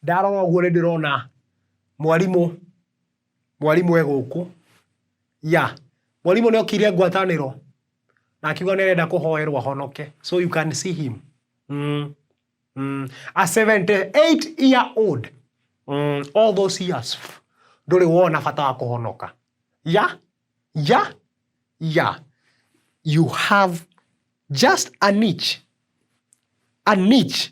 Ndarora ũguo nĩ ndĩrona mwarimũ, mwarimũ e gũkũ, ya. Mwarimũ nĩ okire ngwatanĩro na akiuga nĩ arenda kũhoerwo ahonoke, so you can see him. A seventy eight year old, all those years ndũrĩ wona bata wa kũhonoka. Ya, ya, ya. You have just a niche, a niche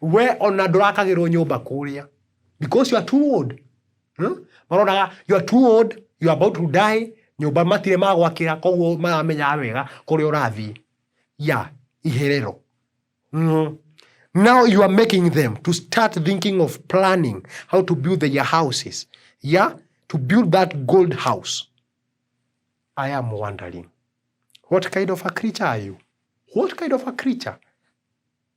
we ona ndũrakagĩrwo nyũmba kũrĩa because you are too old hmm? maronaga you are too old you are about to die nyũmba matirĩ magwakĩra koguo maramenyaga wega kũrĩa ũrathiĩ ya iherero mm. now you are making them to start thinking of planning how to build their houses yeah to build that gold house i am wondering what kind of a creature are you what kind of a creature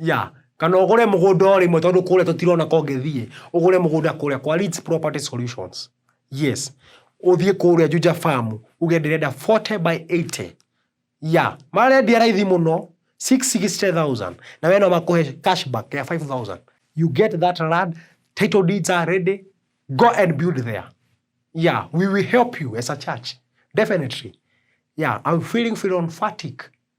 Yeah, kana ũgũre mũgũnda o rĩmwe tondũ kũrĩa tũtirona ka ũngĩthiĩ, ũgũre mũgũnda kũrĩa kwa Leeds Property Solutions. Yes, ũthiĩ kũrĩa Juja Farm, uge ndĩrenda 40 by 80. Yeah, marendia raithi mũno, 660,000, na wee no makũhe cashback ya 5,000. You get that land, title deeds are ready, go and build there. Yeah, we will help you as a church, definitely. Yeah, I'm feeling philonphatic.